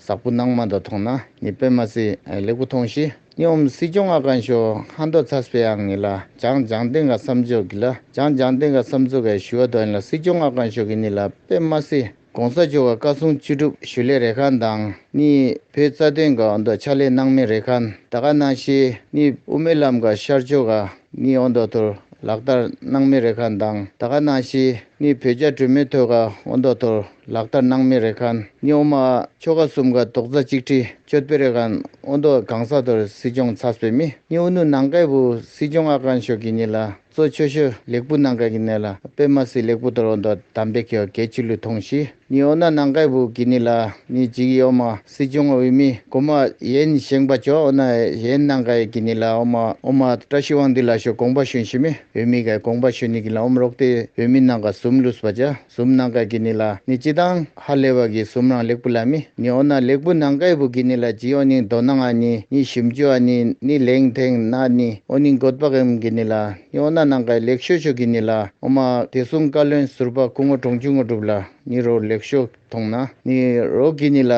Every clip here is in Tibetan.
གཟར་བུ་ནང་མ་དག་མཐོང་ན་ནི་དཔེ་མ་སྲིད་ལེགས་པོ་མཐོང་ཞེས་སྙོམས་སྲིད་ཆུང་ང་གང་ཞོག་ཧ་མདོ་ཚ་སྤེ་ཡང་ངེས་ལ་བྱང་ལྗང་ལྡེང་ག་བསམ་ཆོས་ཀྱི་ལ་བྱང་ལྗང་ལྡེང་ག་བསམ་ཚུལ་གའི་ཞུ་བ་དོན་ལ་སྲིད་ཆུང་ང་གང་ཞོག་གི་ནི་ལ་དཔེ་མ་སྲིད་གོང་ས་མཆོག་ག་བཀའ་སྲུང་བཅུ་དྲུག་ཞུ་ལས་རེ་ཁཱན་དང་ནི་བོད་རྩ་དོན་ག་ཨོ་མདོ་ཕྱག་ལས་སྣང་མེད་རེ་ཁཱན་ད་ག་གནང་ཞེས་ནི་དབུ་མའི་ལམ་ག་ཤར་ཕྱོགས་ག་ནི་ཨོ་མདོ་ཐོར་ལག་དར་སྣང་མེད་རེ་ཁཱན་དང་ད་ག་གནང་ཞེས་ནི་བོད་རྒྱ་གྲོས་མོལ་ཐོད་ག་ཨོ་མདོ་ཐོར། ལག་བསྟར་གནང་མི་རེ་ཁཱན། རྙོག་མ། ཆོ་ག་གསུམ་ཀ་རྡོག་རྩ་གཅིག་དྲིལ་གཅོད་སྤེལ་རེ་ཁཱན་ཨོ་མདོ་གང་ས་དོར་སྲིད་སྐྱོང་ཚ་བསོད་མི་ཉི་ཨུ་ནུ་ནང་ཀའི་བུ་སྲིད་སྐྱོང་ཨ་ཀཱན་ཤོ་གི་ཉི་ལ་གཙོ་ཆོས་ཤོ་ལེགས་བུ་ནང་ཀའི་གི་ནེ་ལ་པེ་མ་སི་ལེགས་བུ་དོར་ཨོ་མདོ་དམ་པེ་ཁེའོ་གའི་ཆི་ལུ་ཐོང་ཤི་ཉི་ཨོ་ན་ནང་ཀའི་བུ་གི་ནི་ལ་ནི་ཇི་གི་ཨོ་མ་སྲིད་སྐྱོང་ཨུ་མི་གོ་མ་ཡེན་བཞེངས་པ་ཅོ་ཨོ་ན་ཡེན་ནང་ཀའི་གི་ནི་ལ་ཨོ་མ་ཨོ་མ་བཀྲ་ཤིས་དབང་འདི་ལ་ཤོ་གོང་པ་ཤུན་ཤི་མི་ཨུ་མི་གའི་གོང་པ་ཤུན་ནི་གི་ལ་ཨོ་མ་རོག་ཏི་ཨུ་མི་ནང་ཀ་སུམ་ལུས་པ་ཅཱ། གསུམ་ནང་ཀ་གི་ནི་ལ་ནི་ཅི་དང་ཧ་ལས་བ་གི་གསུམ་རང་ལེགས་པོ་ལ་མི་ནི་ཨོ་ན་ལེགས་པོ་ནང་ཀའི་བུ་གི་ནི་ལ་ཅི་ཨོ་ནིང་དོ་ནང་ཨ་ནི་ནི་ཞིམ་ཅུ་ཨ་ནི་ནི་ལེང་ཐེང་ན་ནི་ཨོ་ནིང་གོད་པ་གེམ་གི་ནི་ལ་ནི་ཨོ་ན་ནང་ཀའི་ལེགས་ཤོས་ཤོས་གི་ནི་ལ་ཨོ་མ་དེ་གསུམ་བཀའ་བློན་ཟུར་པ་སྐུ་ངོ་གྲོང་ཆུ་ངོ་གྲུབ་ལ་ནི་རོ་ལེགས་ཤོས་མཐོང་ན་ནི་རོ་གི་ནི་ལ་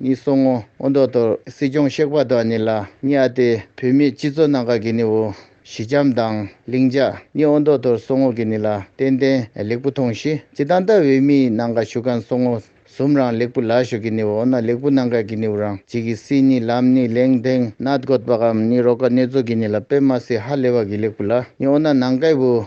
ནི་སོང་ངོ་ཨོ་མདོ་དོར་སྲིད་སྐྱོང་གཤེགས་པ་དོ་ཨ་ནི་ལ་ནི་ཨ་སྟེ་བུད་མེད་སྤྱི་ཚོ་ནང་ཀ་གི་ནི་ཨོ་ཞི་འཇམ་དང་ལྷིང་འཇགས་གཉིས་ཨོ་མདོག་དོར་སོང་ངོ་གི་ནི་ལ་ཏན་ཏན་ལེགས་པོ་མཐོང་ཞི་ཅི་དང་ལྟ་འི་མི་ནང་ག་ཞུ་གང་སོང་ངོ་ཟུམ་རང་ལེགས་པོ་ལ་ཞུ་གི་ནི་ཨོ་ན་ལེགས་པོ་ནང་ག་གི་ནི་ཨུ་རང་ཅི་གི་སི་ནི་ལམ་ནི་ལེང་དེང་ནད་འགོད་པ་གམ་ནི་རོ་ག་ནི་ཛོ་གི་ནི་ལ་པེ་མ་སི་ཧ་ལེ་བ་གི་ལེགས་པོ་ལ་ནི་ཨོ་ན་ནང་ག་ཨུ་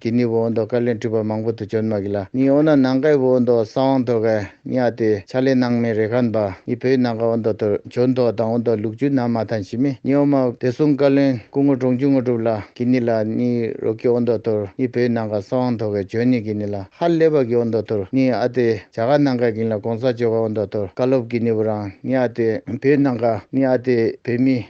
གི་ནི་བོ་འདོ་ཀ་ལན་སྤྲུལ་པ་མང་པོ་དུ་བྱོན་མ་གི་ལ་ནི་འོ་ན་ནང་ཀའི་བོ་འདོ་ས་དབང་ཐོ་ག་ནི་ཨ་ཏི་ཆ་ལེ་ནང་མི་རེ་ཁན་པ་ནི་བོད་ནང་ཀ་བོ་འདོ་དུ་བྱོན་ཐོ་དང་བོ་འདོ་ལུགས་རྒྱུད་ནང་མ་ཐན་ཞི་མི་ནི་འོ་མ་དེ་སུང་ཀ་ལན་སྐུ་ངོ་གྲོང་རྒྱུད་དངོས་གྲུབ་ལ་གི་ནི་ལ་ནི་རོ་ཀི་བོ་འདོ་དུར་ནི་བོད་ནང་ཀ་ས་དབང་ཐོ་ག་བྱོན་ནི་གི་ནི་ལ་ཧ་ལེ་བ་གི་བོ་འདོ་དུར་ནི་ཨ་ཏི་བྱ་ག་ནང་ཀ་གི་ནི་ལ་གོང་ས་མཆོད་ཀ་བོ་འདོ་དུར་ཀ་ལོབ་གི་ནི་བོ་རང་ནི་ཨ་ཏི་བོད་ནང་ཀ་ནི་ཨ་ཏི་བོད་མི།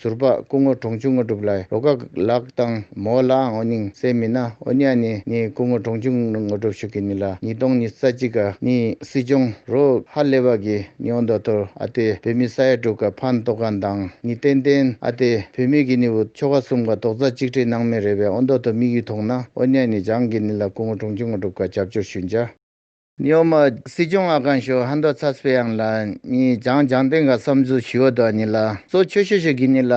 ཟུར་པ་སྐུ་ངོ་གྲོང་ཆུང་དངོས་གྲུབ་ལ་ཡི་རོ་ཀ་ལགས་དང་མོ་ལའང་ཨོ་ཉིང་གསལ་མི་ན་ཨོ་ཉ་ནི་ནི་སྐུ་ངོ་གྲོང་ཆུང་དངོས་གྲུབ་ཤུ་ཀི་ནི་ལ་ཉིས་སྟོང་ཉིས་རྩ་གཅིག་ག་ནི་སྲིད་སྐྱོང་རོ་ཧ་ལེ་བ་གི་ནི་ཨོ་མདོ་ཐོར་ཨ་ཏེ་བོད་མི་ས་ཡ་དྲུག་ག་ཕ་མདོ་ག་མདང་ནི་ཏན་ཏན་ཨ་ཏེ་བུད་མེད་གི་ནི་བུ་ཆོ་ག་གསུམ་ག་དོག་རྩ་གཅིག་ཁྲེ་ནང་མི་རེ་བས་ཨོ་མདོ་ཐོ་དམིགས་ཡུལ་མཐོང་ན་ཨོ་ཉ་ནི་འཇང་གི་ནི་ལ་སྐུ་ངོ་གྲོང་ཆུང་དངོས་གྲུབ་ག་རྒྱབ་སྐྱོར་ཞུ་འཇ། གཡོག་མ། སྲིད་སྐྱོང་ཨ་ཀང་ཞོ་ཧན་དོ་ཚ་སྤེ་ཡང་ལ་ནི་ཇང་ལྗང་ཏན་ག་བསམ་ཚུལ་ཞི་བ་དོ་ནི་ལ་གཙོ་ཆོས་ཤོ་ཤོ་གི་ནི་ལ་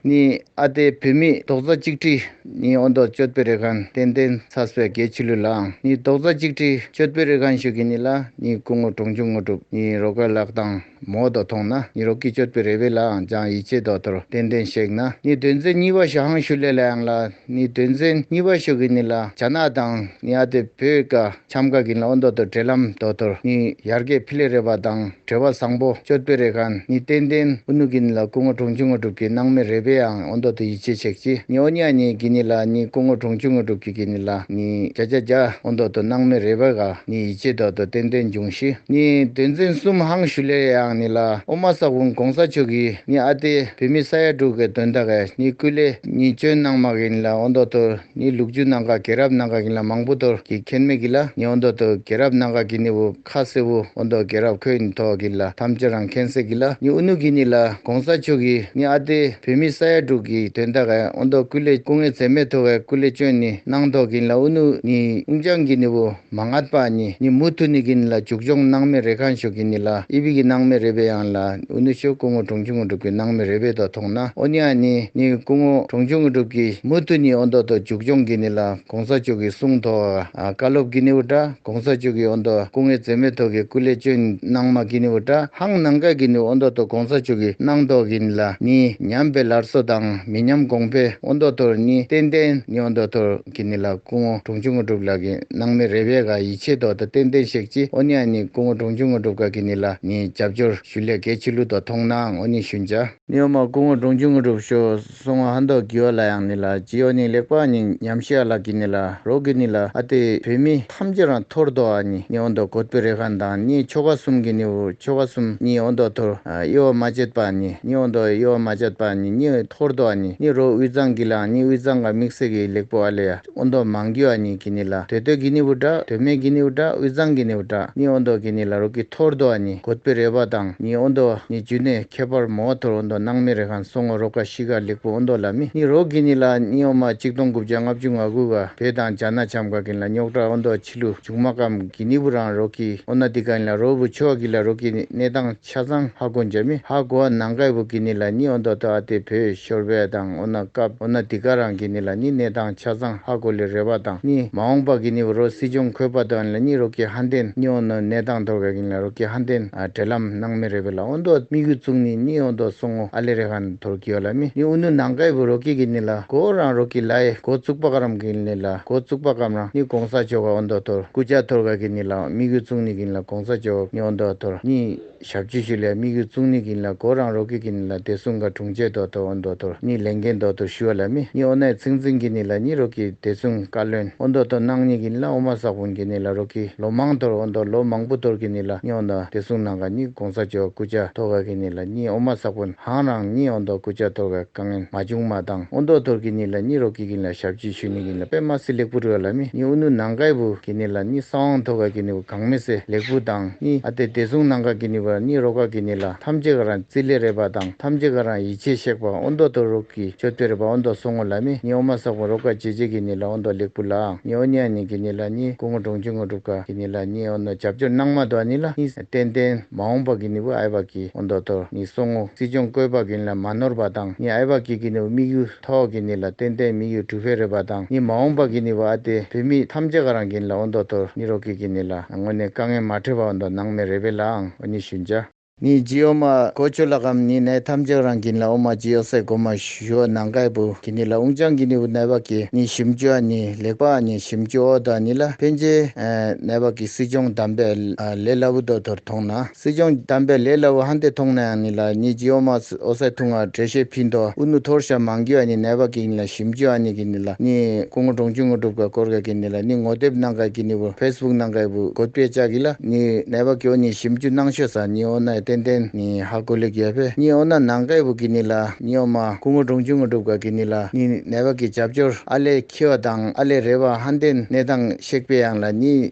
ནི་ཨ་སྟེ་བུད་མེད་རྡོག་རྩ་གཅིག་དྲི་ནི་ཨོ་མདོ་ཅོད་པེ་རེ་ཁན་ཏན་ཏན་ཚ་སྤེ་རྒྱལ་ཆི་ལུ་ལའང་ནི་རྡོག་རྩ་གཅིག་དྲི་ཅོད་པེ་རེ་ཁན་ཞོ་གི་ནི་ལ་ནི་སྐུ་ངོ་གྲོང་ཆུང་ངོ་གྲུབ་ནི་རོ་ཀ་ལགས་དང། མོ་དང་མཐོང་ན་གཉིད་རོ་གིས་གཅོད་པའི་རེ་བས་ལའང་སྦྱང་ཡིད་ཆེས་རྡོག་ཐོར་ཏན་ཏན་གཤེགས་ན་ནི་དོན་མཛད་གཉིས་པ་ཞག་ཧང་ཤུ་ལེ་ལའང་ལ་ནི་དོན་མཛད་གཉིས་པ་ཤུ་གི་ནི་ལ་བྱ་ནག་དང་ནི་ཨ་ཏི་བུ་ཀ་ཁྱམས་ཀ་གི་ནི་ཨོ་མདོ་དུ་བྲེལ་ལམ་རྡོག་ཐོར་ནི་ཡར་རྒས་ཕི་ལེ་རེ་བ་དང་བྲེལ་བ་བཟང་པོ་གཅོད་པའི་རེ་ཁང་ནི་ཏན་ཏན་ཨུ་ནུ་གི་ནི་ལ་སྐུ་ངོ་གྲོང་ཆུང་ངོ་དྲུག་གི་སྣང་མེད་རེ་བའང་ཨོ་མདོ་དུ་ཡིད་ཆེས་ཆེག་ཅི་ནི་ཨོ་ཉག་གཉིས་ཀྱི་ནི་ལ་ནི་སྐུ་ངོ་གྲོང་ཆུང་ངོ་དྲུག་གི་གི་ནི་ལ་ནི་བྱ་བྱ་བྱ་ཨོ་མདོ་དུ་སྣང་མེད་རེ་བ་ག། ནི་ཡིད་ཆེས་དག་ཏུ་ཏན་ཏན་འབྱུང་ཞིག་ནི་དོན་འཛིན་གསུམ་ཧང་ཞུ་ལེ་ཡང་ནི་ལ་ཨོ་མ་ས་བུན་གོང་ས་མཆོག་གིས་ནི་ཨ་ཏེ་བུད་མེད་ས་ཡ་དྲུག་གི་དོན་དག་གི་ནི་སྐུ་ལས་ནི་སྤྱོད་གནང་མ་གིས་ནི་ལ་ཨོ་མདོ་དུ་ནི་ལུག་ཇུ་ནང་ག་གེ་རབ་ནང་ག་གིས་ལ་མང་པོ་དོར་གིས་ཁེན་མེད་གིས་ལ་ནི་ཨོ་མདོ་དུ་གེ་རབ་ནང་ག་གིས་ནི་བུ་ཁ་སེ་བུ་ཨོ་མདོ་གེ་རབ་ཁོས་ནི་ཐོག་གིས་ལ་ཐམས་ཅད་རང་ཁེན་སེ་གིས་ལ་ནི་ཨུ་ནུ་གིས་ནི་ལ། གོང་ས་མཆོག་གིས་ནི་ཨ་ཏེ་བོད་མི་ས་ཡ་དྲུག་གི་དོན་དག་གི་ཨོ་མདོ་སྐུ་ལས་སྐུ་ངལ་ཚད་མེད་མཐོ་བའི་སྐུ་ལས་བཅོལ་ནི་གནང་ཐོག་གིན་ལ་ཨུ་ནུ་ནི་ཨུན་ཅང་གིན་ནི་བུ་མ་ངྷ་པ་ནི་ནི་མུ་ཐུ་ནི་གིན་ལ་འཇུག་སྦྱོང་གནང་མེད་རེད་ཁ་མཆོག་གིན་ནི་ལ་ཨི་བི་གི་གནང་མེད་རེད་པའི་ཡང་ལ་ཨུ་ནུ་ཆོས་སྐུ་ངོ་གྲོང་ཁྱུང་ངོ་སྒྲུབ་གི་གནང་མེད་རེད་པའི་དོ་ཐོང་ན་ཨོ་ནི་ཨ་ནི་ནི་སྐུ་ངོ་གྲོང་ཁྱུང་ངོ་སྒྲུབ་གི་མུ་ཐུ་ནི་ཨོ་མདོ་དོ་འཇུག་སྦྱོང་གིན་ནི་ལ། གོང་ས་མཆོག་གི་གསུང་ཐོག་བཀའ་སློབ་ཀི་ནིའུ་ཏྲ་གོང་ས་མཆོག་གི་ཨོ་མདོ་སྐུ་ངལ་འཛེམ་མེད་ཐོག་གི་སྐུ་ལས་བཅོལ་གནང་མ་ཀི་ནིའུ་ཏྲ་ཧང་ནང་ཀ་གི་ནིའུ་ཨོ་མདོ་ཐོག་གོང་ས་མཆོག་གི་གནང་ཐོག་གི་ནི་ལ་ནི་ཉམས་པའི་ལར་སོ་དང་མི་ཉམས་གོང་འཕེལ་ཨོ་མདོ་ཐོག་ནི་ཏན་ཏན་ནི་ཨོ་མདོ་ཐོག་གི་ནི་ལ་སྐུ་ངོ་དྲུང་ཆུང་དངོས་གྲུབ་ལགས་ཀི་གནང་མི་རེ་བས་ཀ་ཡི་ཆེ་ཐོག་ཏུ་ཏན་ཏན་ཤེག་ཅི་ཨོ་ནི་ཨ་ནི་སྐུ་ངོ་དྲུང་ཆུང་དངོས་གྲུབ་ཀ་གི་ནི་ལ་ནི་རྒྱབ་སྐྱོར་ཞུ་ལས་ཀའི་ཕྱི་ལུགས་ཐོག་མཐོང་ནའང་ཨོ་ནི་ཞུ་འཇ། ནི་ཨོ་མ་སྐུ་ངོ་དྲུང་ཆུང་དངོས་གྲུབ་ཤོ། སོང་བ་ཧ་འདོག་གི་ཡོ་ལ་ཡང་ནི་ལ་ཇི་ཡོ་ནི་ལེགས་པ་ནི་ཉམས་ཤི་ཡ་ལ་གི་ནི་ལ་རོག་གི་ནི་ལ་ཨ་ཏི་བོད་མི་ཐམས་ཅད་རང་འཐོར་འདོ་ཨ་ནི་ནི་ཨོ་འདོག་གོད་པི་རེ་ཁ་འདང་ནི་ཆོ་ག་གསུམ་གི་ནི་ཨུ་ཆོ་ག་གསུམ་ནི་ཨོ་འདོག་འཐོར་ཨི་ཨོ་མ་ཅད་པ་ཨ་ནི་ནི་ཨོ་འདོག་ཨི་ཨོ་མ་ཅད་པ་ཨ་ནི་ནི་འཐོར་འདོ་ཨ་ནི་ནི་རོག་དབུས་གཙང་གི་ལ་ནི་དབུས་གཙང་ག་མིག་སེ་གི་ལེགས་པོ་ཨ་ལ་ཡ། ཨོ་མདོག་མང་གི་བ་ནི་གི་ནི་ལ་དོད་དོད་གི་ནི་བུ་འདྲ་དོད་མེད་གི་ནི་བུ་འདྲ་དབུས་གཙང་གི་ནི་བུ་འདྲ་ནི་ཨོ་མདོག་གི་ནི་ལ་རུ་གི་འཐོར་དོ་བ་ནི་གོད་པི་རེ་བ་དང་ནི་ཨོ་མདོག་ནི་རྒྱུ་ནས་ཁྱད་པར་མོ་བ་འཐོར་ཨོ་མདོག་སྣང་མེད་རེ་ཁང་སོ་ངོ་རོ་ཀ་ཤི་ཀ་ལེགས་པོ་ཨོ་མདོག་ལ་མི་ནི་རོ་གི་ནི་ལ་ནི་ཨོ་མ་གཅིག་སྟོང་དགུ་བརྒྱ་ལྔ་བཅུ་ང་དགུ་བ་བེ་དང་བྱ་ན་བྱམས་ཀ་གི་ནི་ལ་རྙོག་དྲ་ཨོ་མདོག་ཕྱི་ལུ་འཇུག་མ་ཀམ་གི་ནི་བུ་རང་རོ་གི་ཨོ་ན་དི་ཀ་ནི་ལ་རོ་བུ་ཆོ་ག་གི་ལ་རོ་གི་ནི་གནས་དང། ཆ་ཚང་ཧ་གོ་འཇར་མི་ཧ་གོ་ཨ་ནང་ཀའི་བུ་ཀི་ནི་ལ་ནི་ཨོ་མདོ་ཏོ་ཨ་ཏི་བོད་ཤོར་བས་དང་ཨོ་ན་ཀབ་ཨོ་ན་ཏི་ཀ་རང་ཀི་ནི་ལ་ནི་གནས་དང་ཆ་ཚང་ཧ་གོ་ལི་རེ་བ་དང་ནི་མ་འོང་པ་ཀི་ནི་བུ་རོ་སི་ཅོང་ཁོས་པ་ཏོ་ཨན་ལ་ནི་རོ་ཀི་ཧ་འདེན་ནི་ཨོ་ནོ་གནས་དང་དོར་བས་ཀི་ནི་ལ་རོ་ཀི་ཧ་འདེན་ཨ་དྲེ་ལམ་སྣང་མི་རེ་བས་ལ་ཨོ་མདོ་སྨི་གུ་བཙུག་ནི་ནི་ཨོ་མདོ་སོང་ངོ་ཨ་ལེ་རེ་ཧན་དོར་ཀི་ཨོ་ལ་མི་ནི་ཨུ་ནུ་ནང་ཀའི་བུ་རོ་ཀི་ཀི་ནི་ལ་གོ་ཨོ་རང་རོ་ཀི་ལ་ཨེ་གོ་བཙུག་པ་ཀ་རམ་ཀི་ནི་ལ་གོ་བཙུག་པ་ཀམ་རང་ནི་གོང་ས་མཆོག་ཨོ་མདོ་དོར་ཀུ་ཅག་དོར་བས་ཀི་ནི་ལ་སྨི་གུ་བཙུག་ནི་ཀི་ནི་ལ་གོང། གོང་ས་མཆོག་སྨྱོ་འདོག་དོར་གཉིས་ཞབས་ཇུས་ཞུ་སླད་དམིགས་ཡུལ་ཙུང་ནི་གིན་ལ་གོ་རང་རོག་གི་གིན་ལ་བདེ་སྲུང་ག་དྲུང་ཆེ་དོག་དོག་ཨོ་འདོག་དོར་གཉིས་ལས་འགན་འདོག་དོར་ཞུ་བ་ལ་སྨི་གཉིས་ཨོ་ནའི་ཚིག་འཛིན་གི་ནི་ལ་གཉིས་རོག་གི་བདེ་སྲུང་བཀའ་བློན་ཨོ་འདོག་དོར་ནང་གཉིས་གིན་ལ་ཨོ་མ་བསགས་བུན་གི་ནི་ལ་རོག་གི་ལོ་མང་དོར་ཨོ་འདོག་ལོ་མང་པོ་དོར་གི་ནི་ལ་སྨྱོ་འདོག་བདེ་སྲུང་ནང་ག་གཉིས་གོང་ས་མཆོག་སྐུ་ལྕ་དོར་བ་གི་ནི་ལ་གཉིས་ཨོ་མ་བསགས་བུན་ཧང་རང་གཉིས་ཨོ་འདོག་སྐུ་ལྕ་དོར་བའི་དཀའ་ངན་མ་བྱུང་མ་བཏང་ཨོ་འདོག་དོར་གི་ནི་ལ་གཉིས་རོག་གི་གིན་ལ་ཞབས་ཇུས་ཞུ་ནི་གིན་ལ་པད་མ་སི་ལེགས་པོ་རུ་བ་ལ་སྨི་གཉིས་ཨོ་ནུ་ནང་གའི་བུ་གི་ནི་ལ་གཉིས་ས་དབང་དོར་བ་གི་ནི་བུ། གང་མི་སེ་ལེགས་བུ་དང་ནི་ཨ་ཏེ་དེ་གཟུང་ནང་ག་གི་ནི་བར་ནི་རོ་ག་གི་ནི་ལ་ཐམས་ཅད་ཀ་རང་རྩིས་ལས་རེ་བ་དང་ཐམས་ཅད་ཀ་རང་ཡིད་ཆེས་གཤེགས་པ་ཨོ་མདོ་དོ་རོག་གི་མཆོད་བསྟོད་རེ་བ་ཨོ་མདོ་གསུང་ངོ་ལ་མི་ནི་ཨོ་མ་སག་བུ་རོ་ག་བྱེད་བྱེད་གི་ནི་ལ་ཨོ་མདོ་ལེགས་བུ་ལའང་ནི་ཨོ་ནྱ་ནྱི་གི་ནི་ལ་ནི་སྐུ་ངོ་དྲུང་ཆེ་ངོ་སྒྲུབ་ཁ་གི་ནི་ལ་ནི་ཨོ་མདོ་བྱབ་བྱོར་སྣང་མ་དོ་ཨ་ནི་ལ་ནི་བརྟན་བརྟན་མ་འོངས་པ་གི་ནི་བུ་ཨའི་བ་གི་ཨོ་མདོ་དོ་ནི་གསུང་ངོ་སྲིད་སྐྱོང་བཀོད་པ་གི་ནི་ལ་མ་ནོར་བ་དང་ནི་ཨའི་བ་གི་གི་ནི་བུ་དམིགས་ཡུལ། ཐོག་གི་ནི་ལ་ཏེན་ཏན་མི་ཡུལ་གྲུ་བྷེ་རེད་པ་དང་ནི་མ་འོངས་པ་གི་ནི་བ་ཨ་ཏེ་བུད་མེད་ཐམས་ཅད་ག་རང་གི་ནི་ལ་ཨོ་མདོ་དོར་ནི་རོ་ཀི་གི་ནི་ལ་ངོ་ནི་དཀའ་ངལ་མ་འཕྲད་པ་ཨོ་མདོ་ནང་མི་རེ་བེ་ལ་ཨང་ཨོ་ནི་ཞུ་འཇའ། ནི་ཇི་ཨོ་མ་གོ་ཆོད་ལ་གམ་ནི་ནའི་ཐམས་ཅད་ག་རང་གི་ནི་ལ་ཨོ་མ་ཇི་ཨོ་སའི་གོ་མ་ཞུ་ཨོ་ནང་གའི་བུ་གི་ནི་ལ་ཨུང་ཅང་གི་ནི་བུ་ནའི་བ་གི་ནི་ཞིབ་འཇུ་ཨ་ནི་ལེགས་པ་ཨ་ནི་ཞིབ་འཇུ་ཨོ་ད་ནི་ལ་ཕན་ཆེ། ནའི་བ་གི་སྲིད་སྐྱོང་དམ་པའི་ལས་ལ་བུ་མདོ་དོར་མཐོང་ན། སྲིད་སྐྱོང་གྱི་གཏམ་དཔེ་ལས་སླ་བོ་ཧན་དེ་མཐོང་ནའང་ནི་ལ་ཉིད་ཀྱིས་ཨོ་མ་ཨོ་སའི་ཐུང་ངར་གྲལ་བཤེར་ཕིན་ཏོ་ཨུ་ནུ་ཐོར་ཤ་མང་རྒྱུ་ཨ་ནི་ནད་པ་གིས་ནི་ལ་ཞིམ་རྒྱུ་ཨ་ནི་གིས་ནི་ལ་ནི་སྐུ་ངོ་འབྲོང་ཆུང་ངོ་སྒྲུབ་ཁ་སྐོར་ཁ་གིས་ནི་ལ་ནི་ངོ་དེབ་གནང་ཁ་གིས་ནི་བུ་ཕེས་སྦུག་གནང་ཁའི་བུ་གོད་པའི་ལྕག་གིས་ལ་ནི་ནད་པ་གིས་ཨོ་ནི་ཞིམ་རྒྱུ་གནང་ཤོས་ས་ནི་ཨོ་ནའི་ཏན་ཏན་ནི་ཧ་གོ་ལེགས་ཡོད་པས་ནི་ཨོ་ན་ནང་ཁའི་བུ་གིས་ནི་ལ་ནི་ཨོ་མ་སྐུ་ངོ་འབྲོང་ཆུང་ངོ་སྒྲུབ་ཁ་གིས་ནི་ལ་ནི་ནད་པ་གིས་རྒྱབ་སྐྱོར་ཨ་ལས་འཁྱིལ་བ་དང་ཨ་ལས་རེ་བ་ཧན་ཏན་གནས་སྟངས་ཤེག་པའི་ཡང་ལ་ནི་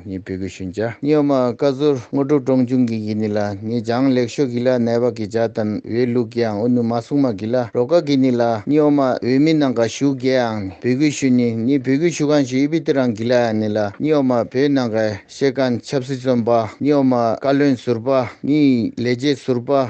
ངས་བོད་གོས་ཞུན་བྱ། སྨྱོན་མ་བཀའ་ཟུར་དངོས་གྲུབ་སྤྲང་ཆུང་གིས་གི་ནི་ལ་ངས་ལྗང་ལེགས་ཤོ་གི་ལ་ནལ་བ་གི་བྱ་དང་འོས་ལུགས་ཀྱི་ཨང་འོ་ནུ་མ་སྲུང་མ་གི་ལ་རོ་ཀ་གི་ནི་ལ་སྨྱོན་མ་འོས་མི་ནང་ག་ཞུགས་གི་ཨང་ནི་བོད་གོས་ཞུ་ནི་ནི་བོད་གོས་ཞུ་གང་ཞིག་ཨི་བི་ཏི་རང་གི་ལ་ཨང་ནི་ལ་སྨྱོན་མ་བོད་ནང་ག་ཤེས་གང་ཆབ་སྲིད་བཙོན་པ་སྨྱོན་མ་བཀའ་བློན་ཟུར་པ་ནི་ལས་བྱེད་ཟུར་པ།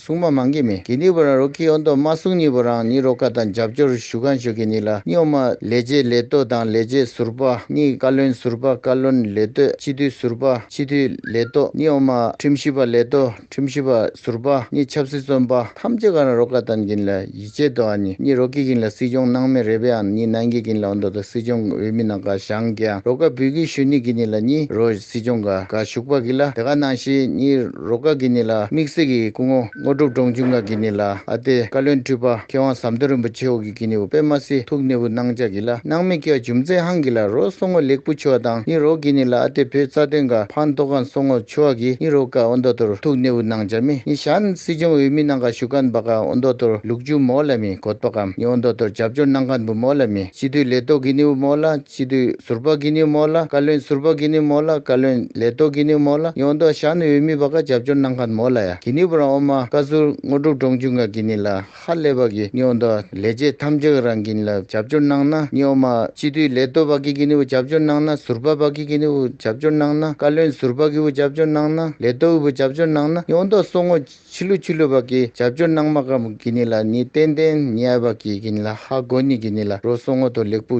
སྲུང་མ་མང་གི་མི་གི་ནི་བུ་རང་རོ་ཀི་ཨོ་འདོ་མ་སྲུང་ནི་བུ་རང་ནི་རོ་ཀ་དང་རྒྱབ་སྐྱོར་ཞུ་གང་ཞུ་གི་ནི་ལ་སྨྱོ་མ་ལས་བྱེད་ལས་གཏོད་དང་ལས་བྱེད་ཟུར་པ་ནི་བཀའ་བློན་ཟུར་པ་བཀའ་བློན་ལས་གཏོད་སྤྱི་འཐུས་ཟུར་པ་སྤྱི་འཐུས་ལས་གཏོད་ནི་ཨོ་མ་ཁྲིམས་ཞིབ་པ་ལས་གཏོད་ཁྲིམས་ཞིབ་པ་ཟུར་པ་ནི་ཆབ་སྲིད་བཙོན་པ་ཐམས་ཅད་ག་རང་རོ་ཀ་དང་གི་ནི་ལ། ཅེས་དོ་ཨ་ནི་ནི་རོ་ཀི་གིན་ལ་སྲིད་སྐྱོང་ནང་མི་རེ་བེ་ཨ་ནི་ནན་གི་གིན་ལ་འོ་འདོ་ད་སྲིད་སྐྱོང་འོས་མི་ནང་ག་ཞང་གི་ཨ་རོ་ཀ་བུད་གི་ཞུ་ནི་གི་ནི་ལ་ནི་རོ་སྲིད་སྐྱོང་ག་ག་ཞུག་པ་གི་ལ་དེ་ག་ནང་ཤི་ནི་རོ་ཀ་གི་ནི་ལ་མིག་སེ་གི་སྐུ་ངོ་ངོ་གྲུབ་འབྲོང་ཆུང་ག་གི་ནི་ལ་ཨ་ཏེ་བཀའ་བློན་ཁྲི་པ་མཁས་དབང་ཟམ་གདོན་རིན་པོ་ཆེ་འོ་གི་གི་ནི་འོ་པེ་མ་སི་ཐུག་ནི་བུ་ནང་ཅག་གི་ལ་ནང་མི་སྐྱ་ཇུམ་ཙེ་ཧང་གི་ལ་རོ་སོ་ངོ་ལེགས་པོ་ཆུ་ཨ་དང་ནི་རོ་གི་ནི་ལ་ཨ་ཏེ་བུ་རྩ་དོན་ག་ཕང་ཏོ་གང་སོ་ངོ། ཆུ་བ་གི་ཨི་རོ་ཀ་ཨོ་མདོ་ཏོར་ཐུག་གནས་འུ་ནང་འཇར་མི་ནི་ཤཱན་སི་ཅུང་འུ་མི་ནང་ག་ཤུ་ཀན་པ་ཀ་ཨོ་མདོ་ཏོར་ལུག་ཅུ་མོ་ལ་མི་གོད་པ་ཀམ་ནི་ཨོ་མདོ་ཏོར་རྒྱབ་སྐྱོར་ནང་ཀན་པུ་མོ་ལ་མི་སྤྱི་འཐུས་ལས་ཏོག་གི་ནི་འུ་མོ་ལ་སྤྱི་འཐུས་ཟུར་པ་གི་ནི་མོ་ལ་བཀའ་བློན་ཟུར་པ་གི་ནི་མོ་ལ་བཀའ་བློན་ལས་ཏོག་གི་ནི་མོ་ལ་ནི་ཨོ་མདོ་ཤཱན་འུ་མི་པ་ཀ་རྒྱབ་སྐྱོར་ནང་ཀན་མོ་ལ་ཡ་གི་ནི་བུ་རང་ཨོ་མ་བཀའ་ཟུར་དངོས་གྲུབ་འབྲོང་ཆུང་ག་གི་ནི་ལ་ཁ་ལས་པ་གིས་སྨྱོ་ཟླ་ལས་བྱེད་ཐམས་ཅད་རང་གིན་ལ་རྒྱབ་སྐྱོར་གནང་ན་སྨྱོ་མ་སྤྱི་འཐུས་ལས་གཏོད་པ་གི་གིན་དབུ་རྒྱབ་སྐྱོར་གནང་ན་ཟུར་པ་པ་གི་གིན་དབུ་རྒྱབ་སྐྱོར་གནང་ན་བཀའ་བློན་ཟུར་པ་གི་དབུ་རྒྱབ་སྐྱོར་གནང་ན་ལས་གཏོད་དབུ་རྒྱབ་སྐྱོར་གནང་ན་སྨྱོ་ཟླ་སོ་ངོ་ཕྱི་ལུ་ཕྱི་ལུ་པ་གི་རྒྱབ་སྐྱོར་གནང་མ་ཀ་མ་གི་ནི་ལ་ནི་ཏན་ཏན་ནི་ཨ་པ་གི་གིན་ལ་ཧ་གོ་ནི་གི་ནི་ལ་རོ་སོ་ངོ་དོ་ལེགས་པོ།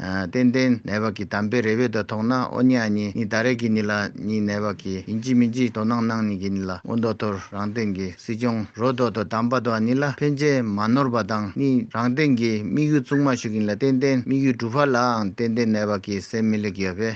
ཏན་ཏན་ནད་བག་གི་དམ་པའི་རེ་བས་དོ་ཐོག་ན་ཨོ་ཉི་ཨ་ཉི་ཉི་ད་རེ་གི་ནི་ལ་ཉི་ནད་བག་གི་ཡིན་གཅིག་མིན་གཅིག་དོ་སྣང་སྣང་ཉིད་ཀྱི་ནི་ལ་ཨོ་མདོ་དོར་རང་སྟེང་གི་སྲིད་སྐྱོང་རོ་དོ་དོ་དམ་པ་དོ་ནི་ལ་ཕན་ཆད་མ་ནོར་བ་དང་ནི་རང་སྟེང་གི་དམིགས་ཡུལ་བཙུགས་མ་ཞུགས་ཀྱི་ནི་ལ་ཏན་ཏན་དམིགས་ཡུལ་འགྲུབ་བར་ལའང་ཏན་ཏན་ནད་བག་གི་སེམས་མི་ལེགས་ཡོད་པས།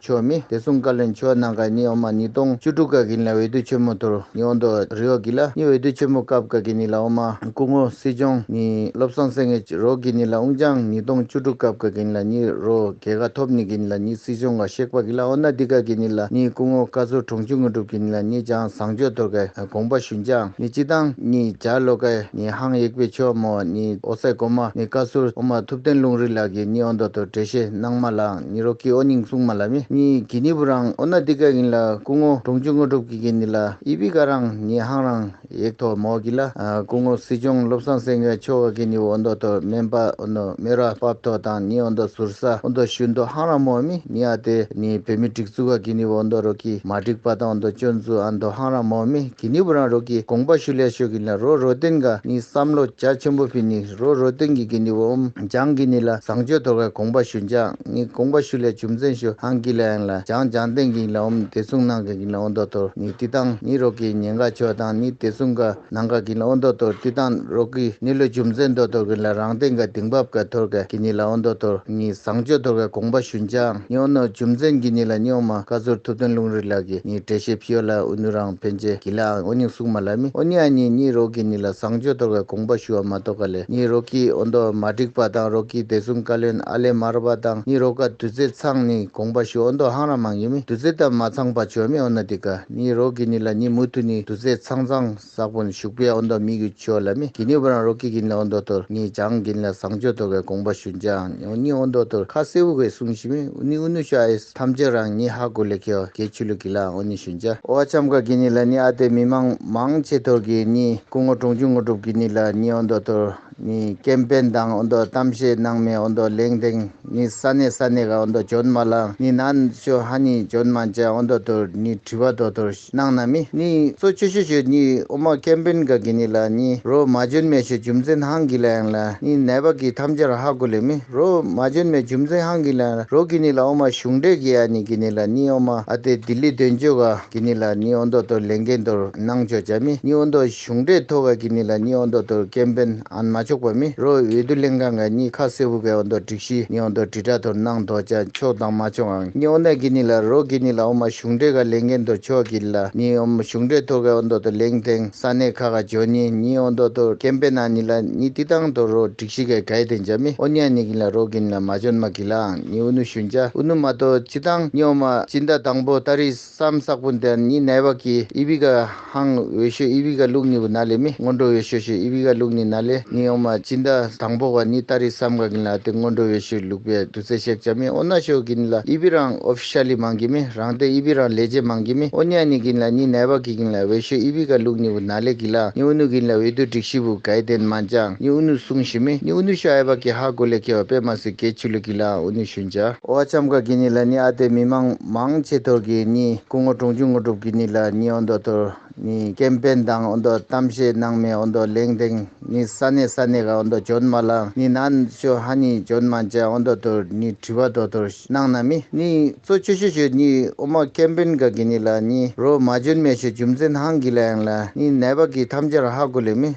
ཆོས་མི་བདེ་སྲུང་བཀའ་བློན་ཆོས་གནང་ཀ་ཉི་འོ་མ་ཉིས་སྟོང་བཅུ་དྲུག་བཀའ་དགེ་ནི་ལ་འོས་བསྡུ་ཆེན་མོ་དོར་ཉི་འོ་མདོ་རི་འོ་དགེ་ལ་ནི་འོས་བསྡུ་ཆེན་མོ་སྐབས་བཀའ་དགེ་ནི་ལ་འོ་མ་སྐུ་ངོ་སྲིད་སྐྱོང་ནི་བློ་བཟང་སེང་གེ་རོ་དགེ་ནི་ལ་དབུང་ལྗང་ཉིས་སྟོང་བཅུ་དྲུག་སྐབས་བཀའ་དགེ་ནི་ལ་ནི་རོ་དགེ་ཀ་ཐོབ་ནི་དགེ་ནི་ལ་ནི་སྲིད་སྐྱོང་ཀ་གཤེགས་པ་དགེ་ལ་འོ་ན་འདི་བཀའ་དགེ་ནི་ལ་ནི་སྐུ་ངོ་བཀའ་ཟུར་གྲོང་ཆུ་དངོས་གྲུབ་དགེ་ནི་ལ་ནི་ལྗང་བཟང་ཆོས་དོར་ཀ་དགོངས་པ་ཞུན་ལྗང་ནི་སྤྱི་བཏང་ནི་འཇའ་ལོ་ཀ་ནི་ཧང་ཡེག་པེ་ཆོས་མོ་ནི་ཨོ་སད་གོ་མ་ནི་བཀའ་ཟུར་འོ་མ་ཐུབ་བསྟན་ལུང་རིགས་ལགས་དགེ་ནི་འོ་མདོ་དོར་འགྲེལ་བཤད་གནང་མ་ལ། ནི་རོ་ཀི་ཨོ་ནིང་སུང་མ་ལ་མི་ནི་གི་ནི་བུ་རང་ཨོ་ན་ཏི་ཀ་གིན་ལ་ཀུ་ངོ་གྲོང་ཆུ་དངོས་གྲུབ་ཀི་གིན་ནི་ལ་ཨི་པི་ཀ་རང་ནི་ཧང་རང་ཡེག་ཐོ་མོ་གིན་ལ་ཀུ་ངོ་སི་ཅོང་བློ་བཟང་སེང་གེ་ཆོ་ག་གིན་ནི་བུ་ཨོ་མདོ་ཐོ་མན་པ་ཨོ་མདོ་མི་ར་པབ་ཐོ་དང་ནི་ཨོ་མདོ་ཟུར་ས་ཨོ་མདོ་ཤུ་མདོ་ཧང་རང་མོ་མི་ནི་ཨ་ཏི་ནི་བོད་མི་སྒྲིག་འཛུག་ག་གིན་ནི་བུ་ཨོ་མདོ་རོ་ཀི་མ་སྒྲིག་པ་དང་ཨོ་མདོ་ཅོ་འཛུ་ཨ་མདོ་ཧང་རང་མོ་མི་གི་ནི་བུ་རང་རོ་ཀི་དགོངས་པ་ཤུ་ལས་ཤོ་གིན་ལ་རོ་རོ་ཏིན་ག་ནི་བསམ་བློ་རྒྱ་ཆེན་པོ་པི་ནི། རོ་རོ་སྟོན་གྱི་གི་ནི་འོམ་བྱང་གི་ནི་ལ་བཟང་སྤྱོད་དོར་བའི་དགོངས་པ་ཞུ་འཇང་ནི་དགོངས་པ་ཞུ་ལས་བྱུང་མཚན་ཞུ་ཧང་གི་ལ་ཡང་ལ་བྱང་བྱང་སྟེང་གི་ནི་ལ་འོམ་བདེ་སྲུང་ནང་གི་ནི་ལ་འོ་མདོ་དོར་ནི་བསྟི་སྟང་ནི་རོག་གི་ཉེ་འགའ་ཆོས་དང་ནི་བདེ་སྲུང་འགའ་ནང་འགའ་གི་ནི་ལ་འོ་མདོ་དོར་བསྟི་སྟང་རོག་གི་ནི་ལོ་བྱུང་མཚན་མདོ་དོར་གི་ནི་ལ་རང་སྟེང་འགའ་དིང་བབ་འགའ་དོར་འགའ་གི་ནི་ལ་འོ་མདོ་དོར་ནི་བཟང་སྤྱོད་དོར་བའི་དགོངས་པ་ཞུ་འཇང་ནི་འོ་ནོར་བྱུང་མཚན་གྱི་ནི་ལ་སྨྱོ་མ་བཀའ་ཟུར་ཐུབ་བསྟན་ལུང་རིགས་ལགས་ཀྱི་ནི་འགྲེལ་བཤད་ཕིའོ་ལ་འུ་ནུ་རང། ཕན་ཆད་ཀྱི་ལའང་ཨོ་ནི་སུག་མ་ལ་མི་ཨོ་ནི་ཨ་ཉིད་གཉིས་རོགས་ཀྱིས་ནི་ལ་བཟང་སྤྱོད་དོར་བའི་དགོངས་པ་ཞུ་བ་མ་གཏོགས་ག་ལེ་གཉིས་རོགས་ཀྱིས་ཨོ་མདོ་མ་འགྲིག་པ་དང་རོགས་ཀྱིས་དེ་གསུམ་བཀའ་བློན་ཨ་ལེ་མ་རོ་པ་དང་གཉིས་རོགས་ཀ་དུས་ཚེ་ཚང་ནི་དགོངས་པ་ཞུ་ཨོ་མདོ་ཧང་ར་མང་ཡིན་མི་དུས་ཚེ་དང་མ་ཚང་པ་བྱོས་མི་ཨོ་ན་དི་ག་གཉིས་རོགས་ཀྱིས་ནི་ལ་གཉིས་མུ་ཐུ་ནི་དུས་ཚེ་ཚང་ཚང་བསགས་པོ་ནི་བཞུགས་པའི་ཨོ་མདོ་མི་གུ་བྱོས་ལ་མི་གི་ནི་བ་རང་རོགས་ཀྱིས་གི་ནི་ལ་ཨོ་མདོ་དོར་གཉིས་བྱང་གི་ནི་ལ་བཟང་སྤྱོད་དོར་བའི་དགོངས་པ་ཞུ་འཇའང་ཨོ་ནི་ཨོ་མདོ་དོར་ཁ་སེ་བུ་གས་གསུངས་ཤི་མི་ཨུ་ནི་ཨུ་ནུ་ཤ་ཨེ། ཐམས་ཅད་རང་ཉིད་ཧ་གོ་ལེ་ཁེའོ་ཀེའི་ཆོས་ལུགས་ཀྱི་ལའང་ཨོ་ནི་ཞུན་ཅཱ། ཨོ་ཆམ་ཀ་གི་ནི་ལ་ནི་ཨ་ཏའི་མི་དམངས་མང་ཆེ་ཐོར་གི་ནི་སྐུ་ངོ་གྲོང་ཆུང་ངོ་གྲུབ་ཀྱི་ནི་ལ་ནི་ཨོ་མདོ་ཐོར་ནི་ཀེམ་པེན་དང་ཨོ་མདོ་གཏམ་བཤད་གནང་མའི་ཨོ་མདོ་ལེང་དེང་ནི་ས་ནས་ས་ནས་ཀ་ཨོ་མདོ་ཇོན་མ་ལ་ནི་ནཱན་ཤོ་ཧ་ནི་ཇོན་མ་ཅཱ་ཨོ་མདོ་ཐོར་ནི་དྲི་བ་མདོ་ཐོར། གནང་ན་མི་ནི་གཙོ་བཅུ་ཆོས་སྤྱོད་གཉིས་དབུ་མ་ཀན་པིན་ག་གི་ནི་ལ་ནི་རོ་མ་འཇོན་མའི་ཆོས་རྒྱུ་མཚན་ཧང་གི་ལའང་ལ་ནི་ནད་པ་གི་ཐམས་ཅར་ཧ་གོ་ལེ་མི་རོ་མ་འཇོན་མའི་རྒྱུ་མཚན་ཧང་གི་ལའང་རོ་གི་ནི་ལ་དབུ་མ་གཞུང་འགྲེལ་གི་ཡ་ནི་གི་ནི་ལ་ནི་དབུ་མ་ཨ་ཏེ་ལྡི་ལི་དོན་གཅོད་ག་གི་ནི་ལ་ནི་ཨོ་མདོ་སྟོད་ལེན་ཀན་ཏོར་གནང་ཆོས་བྱ་མི་ནི་ཨོ་མདོ་གཞུང་འགྲེལ་ཐོ་ག་གི་ནི་ལ་ནི་ཨོ་མདོ་སྟོད་ཀན་པིན། ཨན་མ་ཆོག་པ་མི་རོ་འོས་བསྡུ་ལྷན་ཁང་གི་གཉིས་ཁ་གསལ་བུ་གའི་འོ་མདོ་སྒྲིག་གཞི་གཉིས་འོ་མདོ་དྲིལ་བསྒྲགས་དོར་སྣང་དོར་བྱ་ཆོག་དང་མ་ཆོག་ཨང་གཉིས་འོ་མདའི་གི་གཉིས་ལ་རོ་གི་གཉིས་ལ་འོ་མ་གཞུང་འབྲེལ་ག་ལས་འགན་དོར་ཆོག་གི་ལ་གཉིས་འོ་མ་གཞུང་འབྲེལ་དོར་གའི་འོ་མདོ་དོར་ལེང་ཐེང་ས་གནས་ཁ་ག་ཇོ་གཉིས་གཉིས་འོ་མདོ་དོར་ཀེམ་པེ་ནང་གཉིས་ལ་གཉིས་བསྟི་སྟང་དོར་རོ་སྒྲིག་གཞི་གའི་གའི་དོན་བྱ་མི་འོ་མྱ་གཉིས་གཉིས་ལ་རོ་གི་གཉིས་ལ་མ་ཇོ་ནུ་མ་གི་ལ་ཨང་གཉིས་འོ་ནུ་གཞུང་བྱ་འོ་ནུ་མ་དོར་སྤྱི་སྟང་གཉིས་འོ་མ་སྤྱི་མདའ་དང་པོ་ཏཱ་རིས། སམ་བསགས་པོ་འདི་ནི་ནལ་བ་ཀི་ཨི་བི་ཀ་ཧང་འོད་ཤོས་ཨི་བི་ཀ་ལུགས་གཉིས་པོ་ན་ལེ་མི་སྔོན་འགྲོ་འོད་ཤོས་ཤོས་ཨི་བི་ཀ་ལུགས་གཉིས་ན་ལེ་ནི་ཨོ་མ་ཅི་འདའ་དང་པོ་བ་ནི་ཏཱ་རི་སམ་ག་གིན་ལ་ཏི་སྔོན་འགྲོ་འོད་ཤོས་ལུགས་པའི་བསྡུ་ཚེ་གཤེགས་བྱ་མི་ཨོ་ན་ཤོས་གིན་ལ་ཨི་བི་རང་ཨོ་བྷྱ་ལི་མང་གི་མི་རང་ཏེ་ཨི་བི་རང་ལས་རྗེས་མང་གི་མི་ཨོ་ནྱ་ནི་གིན་ལ་ནི་ནལ་བ་ཀི་གིན་ལ་འོད་ཤོས་ཨི་བི་ཀ་ལུགས་གཉིས་པོ་ན་ལེ་གི་ལ་ནི་ཨུ་ནུ་གིན་ལ་འོད་དུ་དྲིག་བཞི་པོ་གའི་དན་མ་འཇང་ནི་ཨུ་ནུ་སུང་བཞི་མི་ནི་ཨུ་ནུ་ཤོ་ཨེ་བ་ཀི་ཧ་གོ་ལེ་ཁེ་བ་པེ་མ་སི་ཀའི་ཆུ་ལུགས་གིན་ལའང་ཨུ་ནུ་ཤུན་བྱ། ཨོ་བྷྱམ་ག་གིན་ནི་ལ་ནི་ཨ་ཏེ་མི་མང་མང་ཆེ་ཐོག་གི་ནི་སྐུ་ངོ་དྲུང་ཆུང་དངོས་གྲུབ་ཀྱི་ནི་ལ་ནི་ཨོ་མདོ་དུར་ནི་སྐལ་དཔོན་དང་ཨོ་མདོ་གཏམ་བཤད་གནང་མའི་ཨོ་མདོ་ལེང་སྟེང་ནི་ས་གནས་ས་གནས་ཀ་ཨོ་མདོ་འཇོན་མ་ལ་ནི་ན་ཤོ་ཧ་ནི་འཇོན་མ་འཇའ་ཨོ་མདོ་དུར་ནི་དྲི་བ་མདོ་དུར་གནང་ན་མི་ནི་གཙོ་ཆོས་ཤོ་ཤོ་ནི་ཨོ་མ་སྐལ་དཔོན་ག་གི་ནི་ལ་ནི་རོ་མ་འཇོན་མའི་ཤོ་རྒྱུ་མཚན་ཧང་གི་ལ་ཡང་ལ་ནི་ནད་པ་གི་ཐམས་ཅར་ཧ་གོ་ལེ་མི།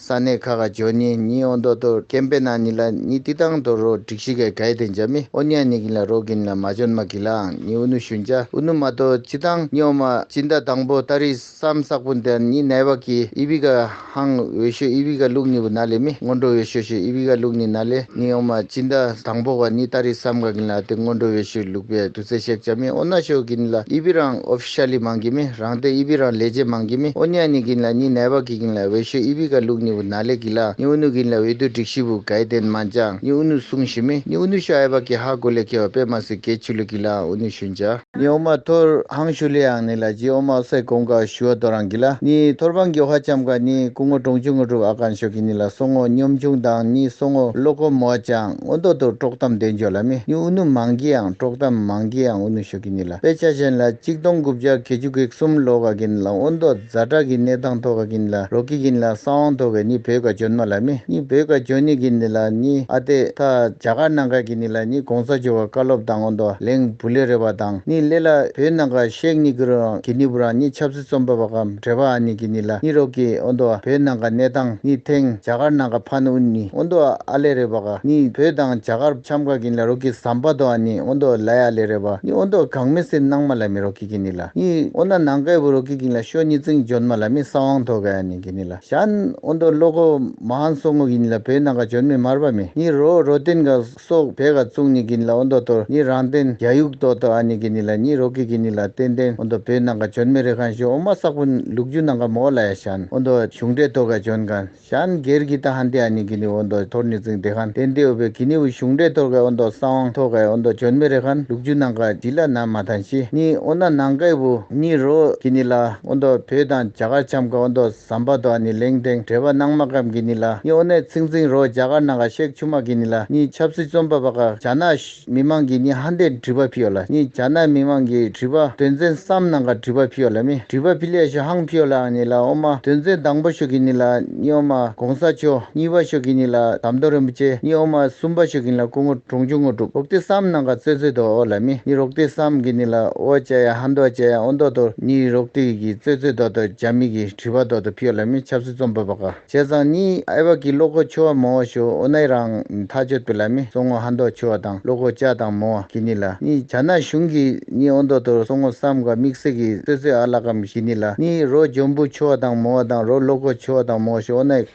ས་གནས་ཁ་ཁ་ཇོ་ནི་ནི་ཨོ་མདོ་དོ་ཀེམ་པེ་ན་ནི་ལ་ནི་ཏི་ཏང་དོ་རོ་དྲིག་ཤི་གའི་གའི་དེ་འཇ་མི་ཨོ་ནི་ཨ་ནི་གིན་ལ་རོ་གིན་ལ་མ་ཇོན་མ་གི་ལའང་ནི་ཨུ་ནུ་ཞུན་ཇ་ཨུ་ནུ་མ་དོ་ཅི་ཏང་ནི་ཨོ་མ་ཅི་མདའ་དང་པོ་ཏཱ་རི་སམ་སག་པོ་མདའ་ནི་ནའི་བ་གི་ཨི་བི་ག་ཧང་འོས་ཤོས་ཨི་བི་ག་ལུག་ནི་བུ་ན་ལེ་མི་སྔོན་འགྲོ་འོས་ཤོས་ཤོས་ཨི་བི་ག་ལུག་ནི་ན་ལེ་ནི་ཨོ་མ་ཅི་མདའ་དང་པོ་བ་ནི་ཏཱ་རི་སམ་ག་གིན་ལ་ཏི་སྔོན་འགྲོ་འོས་ཤོས་ལུག་པའི་དུ་ཚེ་ཤེག་ཇ་མི་ཨོ་ན་ཤོས་གིན་ལ་ཨི་བི་རང་ཨོ། ཤར་ལི་མང་གི་མི་རང་ཏེ་ཨི་བི་རང་ལས་ཇེ་མང་གི་མི་ཨོ་ནི་ཨ་ནི་གིན་ལ་ནི་ནའི་བ་གི་གིན་ལ་ཝེ་ཤོས་ཨི་བི་ག་ལུག་ནི་བུ་ན་ལེ་གི་ལ་ནི་ཨུ་ནུ་གིན་ལ་ཝེ་དུ་དྲིག་ཤི་བུ་གའི་ཏེན་མ་འཇང་ནི་ཨུ་ནུ་སུང་ཤི་མི་ནི་ཨུ་ནུ་ཤོ་ཨའི་བ་གི་ཧ་གོ་ལེ་ཁེ་བ་པེ་མ་སི་གའི་ཆུ་ལུག་གི་ལ་ཨང་ཨུ་ནུ་ཤུན་ཇ། ནི་ཨོ་མ་ཐོར་ཧང་ཤུ་ལེ་ཨང་ནི་ལ་ཇི་ཨོ་མ་ཨོ་སའི་གོང་ག་ཤུ་བ་དོ་རང་གི་ལ་ནི་ཐོར་བང་གི་བྷ་ཅམ་ག་ནི་ཀུ་ངོ་ཀྲོང་ཆུ་ངོ་གྲུབ་ཨ་གང་ཤོ་གི་ནི་ལ་སོ་ངོ་སྙོམ་ཆུང་དང་ནི་སོ་ངོ་ལོ་ཀོ་མོ་ཨ་ཅང་ངོ་མདོ་དུར་ཀྲོག་གཏམ་འདོན་འཇོ་ལ་མི་ནི་ཨུ་ནུ་མང་གི་ཨང་ཀྲོག་གཏམ་མང་གི་ཨང་ཨུ་ནུ་ཤོ་གི་ནི་ལ། དཔེ་ཆ་གཞན་ལ་གཅིག་སྟོང་དགུ་བརྒྱ་གེ་བཅུ་གེག་གསུམ་ལོ་ག་གིན་ལ་ཨོ་མདོ་རྫ་བྲག་གི་གནས་ཐང་ཐོ་ག་གིན་ལ་རོ་ཀི་གིན་ལ་ས་དབང་ཐོ་གས་ནི་བོད་ག་ཇོན་མ་ལ་མི་ནི་བོད་ག་ཇོན་ནི་གིན་ནི་ལ་ནི་ཨ་ཏེ་ཐ་རྒྱ་ག་ནང་ག་གིན་ནི་ལ་ནི་གོང་ས་ཇོ་བ་བཀའ་སློབ་དང་ཨོ་མདོ་ལེང་བུ་ལེ་རེ་བ་དང་ནི་ལེ་ལ་བོད་ནང་ག་གཤེགས་ནི་གུ་རུ་རང་གི་ནི་བུ་རང་ནི་ཆབ་རྩོམ་པ་པ་གམ་བྲེ་བ་ཨ་ནི་གི་ནི་ལ་ནི་རོག་གི་ཨོ་འདོ་ཨ་བོད་ནང་ག་གནས་སྟངས་ནི་ཐེང་རྒྱ་གར་ནང་ག་ཕ་ནི་ཨུ་ནི་ཨོ་འདོ་ཨ་ལེ་རེ་བ་ག་ནི་བོད་དང་རྒྱ་གར་ཆམ་ག་གི་ནི་ལ་རོག་གི་ཟམ་པ་དོ་ཨ་ནི་ཨོ་འདོ་ལའི་ཨ་ལེ་རེ་བ་ནི་ཨོ་འདོ་གང་མི་སེར་ནང་མ་ལ་མི་རོག་གི་གི་ནི་ལ་ནི་ཨོ་ན་ནང་གའི་བུ་རོག་གི་གི་ལ་ཤོ་ནི་ཙིང་འཇོན་མ་ལ་མི་ས་ཝང་དོ་གའི་ཨ་ནི་གི་ནི་ལ་ཞན་ཨོ་འདོ་ལོ་གོ་མ་ཧན་སོ་ངོ་གི་ནི་ལ་བོད་ནང་ག་འཇོན་མི་མར་བ་མི་ནི་རོ་རོ་ཏེན་ག། སོགས་བད་ག་བཙུགས་ནི་གི་ནི་ལ་ཨོ་མདོ་དོར་ནི་རང་བསྟན་རྒྱ་ཡུག་ཏོ་ཏོ་ཨ་ནི་གི་ནི་ལ་ནི་རོ་ཀི་གི་ནི་ལ་ཏན་ཏན་ཨོ་མདོ་བོད་ནང་ག་འཇོན་མེ་རི་ཁང་ཞུ་ཨོ་མ་སག་པོ་ལུག་རྒྱུ་ནང་ག་མོ་ཨོ་ལ་ཡ་ཤན་ཨོ་མདོ་གཞུང་འབྲེལ་ཏོ་ག་འཇོན་གན་ཤན་སྒེར་གི་ཏ་ཧན་ཏི་ཨ་ནི་གི་ནི་ཨོ་མདོ་དོར་ནི་ཙིང་ཏེ་ཁན་ཏན་ཏི་ཨོ་བོད་གི་ནི་ཨུ་གཞུང་འབྲེལ་ཏོར་ག་ཨོ་མདོ་ས་དབང་ཏོ་ག་ཨོ་མདོ་འཇོན་མེ་རི་ཁན་ལུག་རྒྱུ་ནང་ག་ཇི་ལ་ན་མ་ཐན་ཤི་ནི་ཨོ་ན་ནང་གའི་བུ་ནི་རོ་ཀི་ནི་ལ་ཨོ་མདོ་བོད་དང་རྒྱ་གར་ཆམ་ག་ཨོ་མདོ། ཟམ་པ་དོ་ཨ་ནི་ལིང་ཏེང་བྲེ་བ་ནང་མ་ཀམ་གི་ནི་ལ་གཡོ་ནད་ཚིག་འཛིང་རོ་རྒྱ་གར་ནང་ག་གཤེགས་ཆུ་མ་གི་ནི་ལ་གཉིས་ཆབ་སྲིད་རྩོམ་པ་པ་ག་རྒྱ་ནག་མི་མང་གི་ནི་ཧ་འདས་དྲི་བ་ཕིོ་ལ་གཉིས་རྒྱ་ནག་མི་མང་གི་དྲི་བ་དོན་ཚན་གསམ་ནང་ག་དྲི་བ་ཕིོ་ལ་མི་དྲི་བ་ཕི་ལས་ཤོ་ཧང་ཕིོ་ལ་ཨ་ནི་ལ་ཨོ་མ་དོན་ཚན་དང་པོ་ཤོ་གི་ནི་ལ་གཉིས་ཨོ་མ་གོང་ས་མཆོག་གཉིས་པ་ཤོ་གི་ནི་ལ་དམ་དོ་རིན་པོ་ཆེ་གཉིས་ཨོ་མ་གསུམ་པ་ཤོ་གི་ནི་ལ་སྐུ་ངོ། གྲོང་ཆུང་དངོས་གྲུབ་རོག་ཏི་སམ་ནང་ག་ཙོད་ཙོད་དོ་ཨོ་ལ་མི་ནི་རོག་ཏི་སམ་གི་ནི་ལ་ཨོ་ཅ་ཡ་ཧ་མདོ་ཅ་ཡ་ཨོ་མདོ་དོ་ནི་རོག་ཏི་གི་ཙོད་ཙོད་དོ་དོ་ཇ་མི་གི་དྲི་བ་དོ་དོ་ཕི་ཨོ་ལ་མི་ཆབ་སྲིད་རྩོམ་པ་པ་ག་ཅེ་ཙང་ནི་ཨེ་བ་གི་བློ་ཁོ་ཆུ་བ་མོ་ཨོ་ཤོ་ཨོ་ནའི་རང་ནི་ཐ་ཅོད་པི་ལ་མི་སོ་ངོ་ཧ་མདོ་ཆུ་བ་དང་བློ་ཁོ་ཅ་དང་མོ་ཨ་གི་ནི་ལ་ནི་བྱ་ན་གཞུང་གི་ནི་ཨོ་མདོ་དོ་སོ་ངོ་སམ་ག་མིག་སེ་གི་ཙོད་ཙོད་ཨ་ལ་ཀམ་གི་ནི་ལ་ནི་རོ་འཇོམ་བུ་ཆུ་བ་དང་མོ་ཨ་དང་རོ་བློ་ཁོ་ཆུ་བ་དང་མོ་ཨོ་ཤོ་ཨོ་ནའི།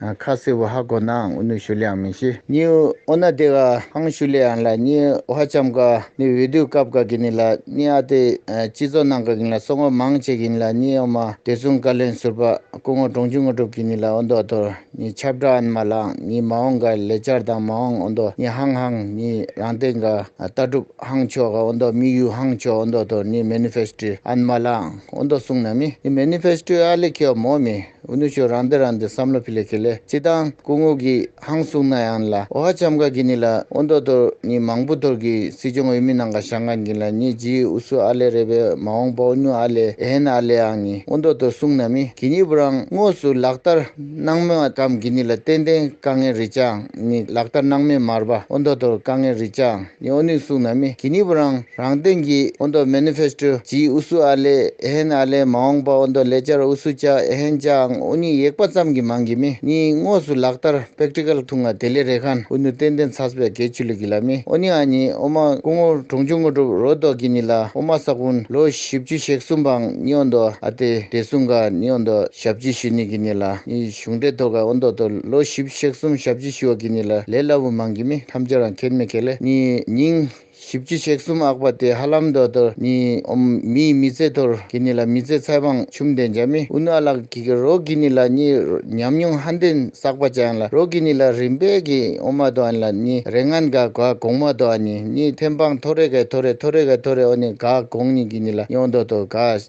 ཁ་བསིལ་བོ་ཧ་གོ་ནའང་ཨུ་ནུ་ཞུ་ལེ་ཡང་མི་ཤེས། ནི་ཨོ་ན་དེ་ག་ཧང་ཞུ་ལེ་ཡང་ལ་ནི་ཨོ་ཧ་ཆམ་ག་ནི་འོས་བསྡུ་སྐབས་ག་གི་ནི་ལ་ནི་ཨ་ཏི་སྤྱི་ཚོགས་ནང་ག་གི་ནི་ལ་སོ་ངོ་མང་བྱེད་གི་ནི་ལ་ནི་ཨོ་མ་དེ་གསུམ་བཀའ་བློན་ཟུར་པ་སྐུ་ངོ་འབྲོང་ཆུང་ངོ་གྲུབ་ཀྱི་ནི་ལ་ཨོ་མདོ་དོར་ནི་ཆབ་བྲག་ཨན་མ་ལའང་ནི་མ་འོང་ག་ལེ་ཅར་དང་མ་འོང་ཨོ་མདོ་ནི་ཧང་ཧང་ནི་རང་སྟེང་ག་ལྟ་གྲུབ་ཧང་ཆོ་ག་ཨོ་མདོ་དམིགས་ཡུལ་ཧང་ཆོ་ཨོ་མདོ་དོར་ནི་མེ་ནི་ཕེ་སི་ཏྲི་ཨན་མ་ལའང་ཨོ་མདོ་གསུང་ན་མི་ནི་མེ་ནི་ཕེ་སི་ཏྲི་ཨ་ལེ་ཁེ་བ་མོ་མི་ཨུ་ནུ་ཆོས་རང་འདི་རང་འདི་བསམ་བློ་ཕི་ལེ་ཁེ་ལེ་ཅི་དང་སྐུ་ངོ་གིས་ཧང་གསུངས་ན་ཡང་ལ་ཨོ་ཧ་ཆམ་ག་གི་ནི་ལ་ཨོ་མདོ་དོ་ནི་མང་པོ་དོར་གི་སྲིད་སྐྱོང་འོས་མི་ནང་ག་ཤང་ག་གིན་ལ་ནི་ཇི་ཨུ་སུ་ཨ་ལེ་རེ་བའི་མ་འོང་པའོ་ཉུ་ཨ་ལེ་ཨེ་ཧན་ཨ་ལེ་ཨང་ནི་ཨོ་མདོ་དོ་གསུངས་ན་མི་གི་ནི་བུ་རང་དངོས་སུ་ལག་བསྟར་གནང་མོད་ཨ་གམ་གི་ནི་ལ་ཏན་ཏན་དཀའ་ངལ་རི་ཅང་ནི་ལག་བསྟར་གནང་མེད་མར་བ་ཨོ་མདོ་དོར་དཀའ་ངལ་རི་ཅང། ནི་ཨོ་ནུས་གསུངས་ན་མི་གི་ནི་བུ་རང་རང་སྟེང་གི་ཨོ་མདོ Manifesto སྤྱིའི་ཨུ་སུ་ཨ་ལེ་ཨེ་ཧན་ཨ་ལེ་མ་འོངས་པ་ཨོ་མདོ་ལེ་ཅར་ཨུ་སུ་ཅཱ་ཨེ་ཧན་ཅཱའང་ཨོ་ནུའི་ཡེག་པ་ཙམ་གི་མང་གི་མི་ནི་དངོས་སུ་ལག་བསྟར Practical ཐུང་ང་དེ་ལེ་རེ་ཁན་ཨུ་ནུ་ཏན་ཏན་ཚྭས་པའི་གེ་ཆུ་ལི་གི་ལ་མི་ཨོ་ནི་ཨ་ནི་ཨོ་མ་ཀུ་ངོ་གྲོང་ཆུང་ངོ་གྲུབ་རོ་དོག་གི་ནི་ལ་ཨོ་མ་ས་ཀུན་ལོ་བཞི་བཅུ་ཞེག་གསུམ་པའང་ནི་ཨོ་མདོ་ཨ་ཏེ་དེ་སུང་ག་ནི་ཨོ་མདོ་ཞབས་ཅི་ཞུ་ནི་གི་ནི་ལ་ནི། གཞུང་འབྲེལ་ཐོག་ཁ་འོ་མདོག་ཏུ་ལོ་བཞི་བཞག་གསུམ་བཞག་བཅུ་ཞུ་བ་གི་ནི་ལ་ལས་སླ་བོ་མང་གི་མི་ཐམས་ཅད་རང་ཁེར་མི་ཁེར་ལས་ནི་ཉིན་བཞི་བཅུ་བཞག་གསུམ་ཨག་པ་དེ་ཧ་ལམ་འདོད་དོར་ནི་འོམ་མིའི་མི་ཚེ་དོར་གི་ནི་ལ་མི་ཚེ་ཚད་དཔང་ཆུམ་ལྡན་བྱ་མི་ཨུ་ནུ་ཨ་ལགས་གི་གི་རོགས་གི་ནི་ལ་ནི་ཉམས་མྱོང་ཧ་འདན་བསགས་པ་ཅང་ལ་རོགས་གི་ནི་ལ་རིམ་པས་གི་འོ་མ་དོ་ཨན་ལ་ནི་རེ་ངན་དགའ་ག་གོང་མ་དོ་ཨ་ནི་ནི་ཐེམ་དཔང་ཐོ་རེ་ག་ཐོ་རེ་ཐོ་རེ་ག་ཐོ་རེ་ཨོ་ནི་ག་གོང་ནི་གི་ནི་ལ་ཉོག་འདོད་དོར་ག།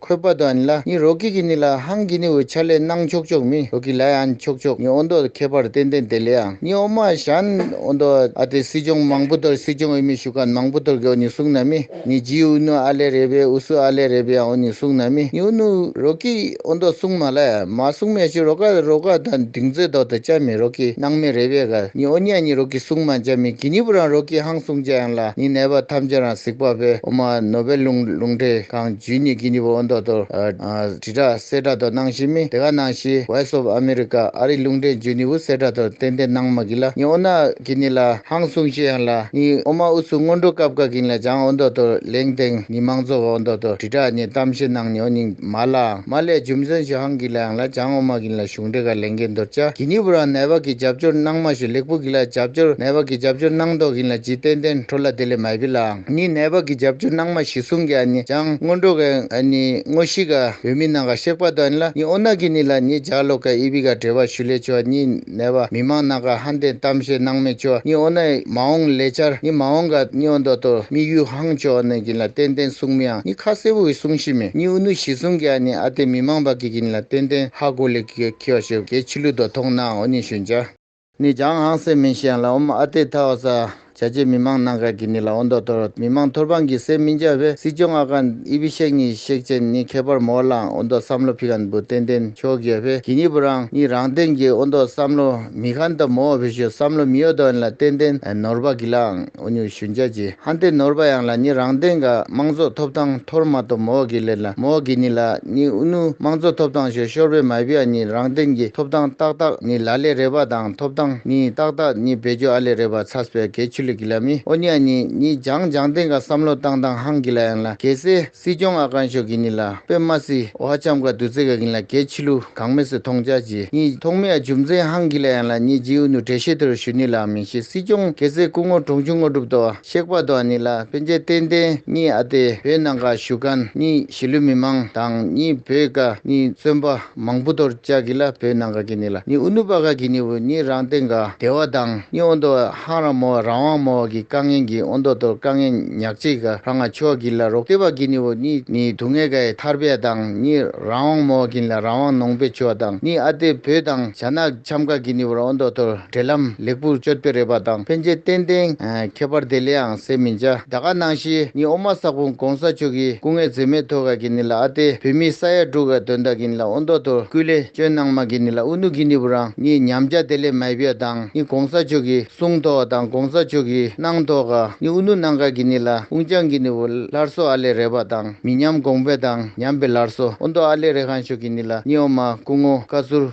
ཁོད་པ་དོ་ཨན་ལ་ནི་རོ་ཀི་གི་ནི་ལ་ཧང་གི་ནི་འོད་ཆ་ལས་སྣང་ཆོག་ཆོག་མི་རོ་ཀི་ལའི་ཨན་ཆོག་ཆོག་ནི་ཨོ་མདོ་ཁྱད་པར་རྟེན་རྟེན་དེ་ལས་ཨང་ནི་ཨོ་མ་ཞན་ཨོ་མདོ་ཨ་དེ་སྲིད་སྦྱོང་མང་པོ་དོར་སྲིད་སྦྱོང་ཨི་མི་ཞུ་ཁ་མང་པོ་དོར་གི་ཨོ་ནི་གསུང་ན་མི་ནི་ཇི་ཨུ་ནུ་ཨ་ལས་རེད་པས་ཨུ་སུ་ཨ་ལས་རེད་པས་ཨང་ཨོ་ནི་གསུང་ན་མི་ནི་ཨུ་ནུ་རོ་ཀི་ཨོ་མདོ་གསུང་མ་ལ་ཨེ་མ་གསུང་མེད་ཞུ་རོ་ཀ་རོ་ཀ་དང་སྡིག་མཛོད་མདོ་དང་བཅའ་མི་རོ་ཀི་སྣང་མེད་རེད་པས་ག་ནི་ཨོ་ནས་ནི་རོ་ཀི་གསུང་མ་འཇའ་མི་གི་ནི་པུ་རང་རོ་ཀི་ཧང་གསུང་འཇའ་ཨན་ལ་ནི་ནད་པ་ཐམས་ཅད་རང་གཟིགས་པ་པས་ཨོ་མ་ནོ་པའི་ལུང་ལུང་འདྲེ་གང། ཇུས་གཉིས་ཀྱི་གཉིས་པོ་ཨོ་མདོག་དོར། དྲི་བྲག་གསེར་བྲག་དོར་སྣང་བཞི་མེད་དེ་ག་སྣང་བཞི Voice of America ཨ་རིག་ལུང་འདྲེན་ཇུས་གཉིས་པོ་གསེར་བྲག་དོར་ཏན་ཏན་སྣང་མ་གིན་ལ་གཉིས་ཨོ་ནག་གིན་ནི་ལ་ཧང་གསུང་བཤད་ཡང་ལ་གཉིས་ཨོ་མ་ཨུ་ཚུགས་སྔོན་འགྲོ་སྐབས་ག་གིན་ལ་བྱང་ཨོ་མདོག་དོར་ལེང་སྟེང་གཉིས་མང་གཙོ་བ་ཨོ་མདོག་དོར་དྲི་བྲག་གཉིས་གཏམ་བཤད་སྣང་གཉིས་ཨོ་གཉིས་མ་ལའང་མ་ལས་རྒྱུ་མཚོན་ཞུ་ཧང་གིན་ལ་ཡང་ལ་བྱང་ཨོ་མ་གིན་ལ་གཞུང་འགྲེལ་ག་ལེང་གིན་མདོར་བྱ་གི་གཉིས་པོ་རང་ནད་བག་གི་རྒྱབ་སྐྱོར་སྣང་མ་ཞུ་ལེགས་པོ་གིན་ལ་རྒྱབ་སྐྱོར་ནད་བག་གི་རྒྱབ་སྐྱོར་སྣང་མདོག་གིན་ལ་ཇི་ཏན་ཏན་འཕྲོ་ལ་དེ་ལས་མ་ཡི་པི་ལའང། ནི་ནད་པ་གི་རྒྱབ་ཆུ་ནང་མ་བཞི་གསུང་གི་ཨ་ནི་ལྗང་སྔོ་འགྲོ་ག་ཨ་ནི་སྔོ་བཞི་ག་བོད་མི་ནང་ག་གཤེགས་པ་དོ་ཨ་ནི་ལ་ནི་ཨོ་ན་གི་ནི་ལ་ནི་འཇག་ལོ་ག་ཨི་བི་ག་བྲེ་བ་ཞུ་ལེ་ཆུ་ཨ་ནི་ནད་པ་མི་མང་ནང་ག་ཧན་ཏེན་གཏམ་བཤད་སྣང་མེད་ཆུ་ཨ་ནི་ཨོ་ན་མ་འོང་ལེ་ཆར་ནི་མ་འོང་ག་ཨ་ནི་ཨོ་འདོ་དོ་མི་གཡུ་ཧང་ཆུ་ཨོ་ན་གི་ནི་ལ་ཏན་ཏན་གསུང་མི་ཨང་ནི་ཁ་སེ་བོ་གི་གསུང་བཞི་མེ་ནི་ཨུ་ནུ་བཞི་གསུང་གི་ཨ་ནི་ཨ་ཏེ་མི་མང་པ་གི་གི་ནི་ལ་ཏན་ཏན་ཧ་གོ་ལེ་གི་ག་ཁི་ཨོ་ཤེ་བོ་གའི་ཆི་ལུ་དོ་ཐོང་ནའང་ཨོ་ནི་ཞུ་འཇག། ནི་ཅང་ཧང་སའེ་མིན་ཤན་ལ་ཨོམ་ཨ་ཏེ་ཐའོ་ས་བྱ་ཆེ་མི་མང་ནང་ཁག་གི་ནི་ལ་ཨོ་མདོ་སྟོད་རོ་མི་མང་ཐོར་འབངས་ཀྱི་སེ་མིན་ཅའོ་བྷེ་སི་སྐྱོང་ཨ་ཀན་ཨི་བི་ཤེག་ནི་ཤེག་ཅན་ནི་ཁེ་པར་མོ་ལང་ཨོ་མདོ་བསམ་བློ་ཕི་ཀན་བུ་ཏན་ཏན་ཆོ་གེ་བྷེ་གི་ནི་བུ་རང་ནི་རང་སྟེང་གི་ཨོ་མདོ་བསམ་བློ་མི་ཁན་ཏ་མོ་བྷེ་ཤོ་བསམ་བློ་མི་ཨོ་མདོ་ཨན་ལ་ཏན་ཏན་ནོར་བ་གི་ལང། ཨོ་ཉུལ་ཞུ་འཇལ་གྱིས་ཧན་ཏེ་ནོར་པ་ཡང་ལ་ཉི་རང་སྟེང་ག་དམངས་གཙོ་ཐོབ་ཐང་མཐོར་མ་ཏོ་མོའོ་གི་ལེར་ལ་མོའོ་གི་ཉི་ལ་ཉི་ཨུ་ནུ་དམངས་གཙོ་ཐོབ་ཐང་ཞོ་ཤོར་པའི་མ་བི་ཨ་ཉི་རང་སྟེང་གི་ཐོབ་ཐང་ཏག་ཏག་ཉི་ལ་ལེ་རེ་བ་དང་ཐོབ་ཐང་ཉི་ཏག་ཏག་ཉི་བེ་ཇོ་ཨ་ལེ་རེ་བ་ཚ་སྤེ་གེ་ཆུ་ལི་གི་ལ་མི་ཨོ་ཉི་ཨ་ཉི་ཉི་འཇང་འཇང་སྟེང་ག་བསམ་བློ་བཏང་བཏང་ཧང་གི་ལ་ཡང་ལ་གེ་སེ་སྲིད་སྐྱོང་ཨ་ཀང་ཤོག་གིན་ནི་ལ་པེ་མ་སི་ཨོ་ཧ་ཆམ་ག་དུ་ཙེ་ག་གིན་ལ་གེ་ཆི་ལུ་གང་མེ་སི་ཐོང་ཅཱ་ཅི་ཉི་ཐོག་མེ་ཨ་ཇུམ་ཙེ་ཧང་གིན་ལ་ཡང་ལ་ཉི་ཇི་ཨུ་ནུ་ཏྲེ་ཤེ་ཏུ་རུ་ཤུ་ནི་ལ་མིན་ཤི་སྲིད་སྐྱོང་གེ་ཙེ་སྐུ་ངོ་གྲོང་ཆུང་དངོས་གྲུབ་ཏོ་གཤེགས་པ་ཏོ་ཨ་ནི་ལ་པེ་མཇལ་ཏེན་ཏེན་ཉི་ཨ་ཏེ་བོད་ནང་ག་བཞུགས་ག་ནི་ཞི་ལུ་མི་མང་དང་ཉི་བོད་ག་ནི་བཙོན་པ། མང་པོ་དོར་བཅག་གི་ལ་བོད་ནང་ག་གི་ནི་ལ་ནི་ཨུ་ནུ་པ་ག་གི་ནི་བོ་ནི་རང་སྟེང་ག་བདེ་བ་དང་ནི་ཨོ་མདོ་ཧང་ར་མོ་བ་རང་དབང་མོ་བ་གི་དཀའ་ངལ་གི་ཨོ་མདོ་དོར་དཀའ་ངལ་ཉག་ཅིག་ག་རང་ང་ཕྱོགས་གི་ལ་རོགས་བསྟེ་བ་གི་ནི་བོ་ནི་ནི་དུག་ངལ་ག་ཡི་ཐར་པའི་དང་ནི་རང་དབང་མོ་བ་གི་ལ་རང་དབང་ནོངས་པའི་ཆོས་དང་ནི་ཨ་ཏེ་བོད་དང་བྱ་ན། ཆམ་ཁ་གི་ནི་བར་ཨོ་མདོ་དོར་འབྲེལ་ལམ་ལེགས་པུར་བཅོ་ལྟེ་རེད་པ་དང་ཕན་ཆད་གཏན་གཏན་ཁྱད་པར་དེ་ལེའང་ཟེར་མི་འཇའ་ད་ག་ནང་ཤེས་ནི་ཨོ་མ་སག་པུང་གོང་ས་མཆོག་གི་སྐུ་ངལ་ཛེ་མེ་ཐོ་ག་གི་ནི་ལ་ཨ་ཏེ་བུད་མེད་ས་ཡ་དྲུག་ག་དོན་དག་གི་ནི་ལ་ཨོ་མདོ་དོར་སྐུ་ལས་སྤྱོན་གནང་མ་གི་ནི་ལ་ཨུ་ནུ་གི་ནི་བུ་རང་ནི་ཉམས་འཇའ་དེ་ལེ་མའི་བུ་དང་ནི་གོང་ས་མཆོག་གི་གསུང་ཐོ་ག་དང་གོང་ས་མཆོག་གི་གནང་ཐོ་ག་ནི་ཨུ་ནུ་གནང་ག་གི་ནི་ལ་ཨུང་ཅང་གི་ནི་བུ་ལར་སོ་ཨ་ལེ་རེད་པ་དང་མི་ཉམས་གོང་བེ་དང་ཉམས་བེ་ལར་སོ་ཨོ་མདོ་ཨ་ལེ་རེ་ཁང་ཤོག་གི་ནི་ལ་ནི་ཨོ་མ་སྐུ་ངོ་བཀའ་ཟུར།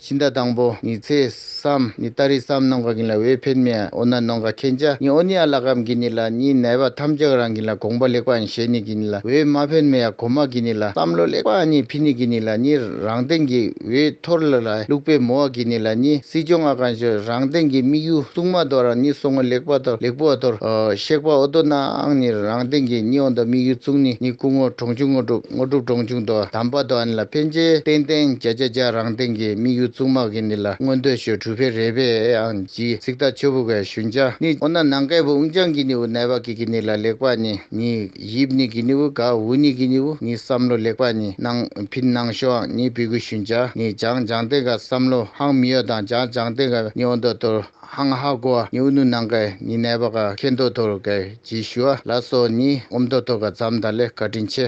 ཕྱི་ཟླ་དང་པོ་ཉི་ཚེ་སམ་ཉི་ད་རི་སམ་ནང་ག་གིན་ལ་འོས་འཕེན་མེ་ཨོ་ན་ནང་ག་ཁེན་ཅ་ཉི་ཨོ་ནི་ཨ་ལ་གམ་གིན་ནི་ལ་ཉི་ནལ་བ་ཐམ་ཅག་རང་གིན་ལ་དགོངས་པ་ལེགས་པ་ཨན་བཞེས་ནི་གིན་ནི་ལ་འོས་མ་འཕེན་མེ་ཡ་གོ་མ་གིན་ནི་ལ་བསམ་བློ་ལེགས་པ་ཨ་ཉི་འཕི་ནི་གིན་ནི་ལ་ཉི་རང་སྟེང་གི་འོས་འཐོར་ལ་ལ་ལུགས་པའི་མོ་ཨ་གིན་ནི་ལ་ཉི་སྲིད་སྐྱོང་ཨ་གང་ཞོ་རང་སྟེང་གི་དམིགས་ཡུ་སྲུང་མ་དོ་རང་ཉི་སོ་ངོ་ལེགས་པ་དོ་ལེགས་པོ་ཨ་ཐོར་ཨོ་ཤེགས་པ་ཨོ་དོ་ན་ཨང་ཉི་རང་སྟེང་གི་ཉི་ཨོ་ད་དམིགས་ཡུ་ཙུང་ནི་ཉི་སྐུ་ངོ་གྲོང་ཆུ་ངོ་གྲུ། དངོས་གྲུབ་གྲོང་ཆུང་དོ་དམ་པ་དོ་ཨན་ལ་ཕན་ཆེ་ཏན་ཏན་བརྒྱ་ཆ་བརྒྱ་རང་སྟེང་གི་དམིགས་ཡུལ་བཙུགས་མ་གི་ནི་ལ་སྔོན་འདོད་ཞོལ་གྲུ་བྷེ་རེ་བྷེ་ཨན་གྱིས་གཟིགས་ད་ཆོ་བུ་གའི་ཞུན་ཅ་ནི་འོ་ན་ནང་གའི་བུ་ཨུན་ཅང་གི་ནི་བུ་ནལ་བ་གི་གི་ནི་ལ་ལེགས་པ་ནི་ནི་ཡིབ་ནི་གི་ནི་བུ་ག་བུ་ནི་གི་ནི་བུ་ནི་བསམ་བློ་ལེགས་པ་ནི་ནང་ཕིན་ནང་ཞོ་ཨང་ནི་བི་གུ་ཞུན་ཅ་ནི་ཇང་ཇང་ཏེ་ག་བསམ་བློ་ཧང་མི་ཡོ་དང་ཇང་ཇང་ཏེ་ག་ནི་འོ་འདོད་དོ། ཧང་ཧ་གོ་བ་ནི་ཨུ་ནུ་ནང་ཀའི་ནི་ནད་པ་ག་ཁེ་མདོ་དོ་རུ་ཀའི་ཇི་ཞུ་བ་ལ་སོགས་ནི་ཨོ་མདོ་དོ་ག་ཛམ་དང་ལེ་ཀ་དྲིན་ཆེ།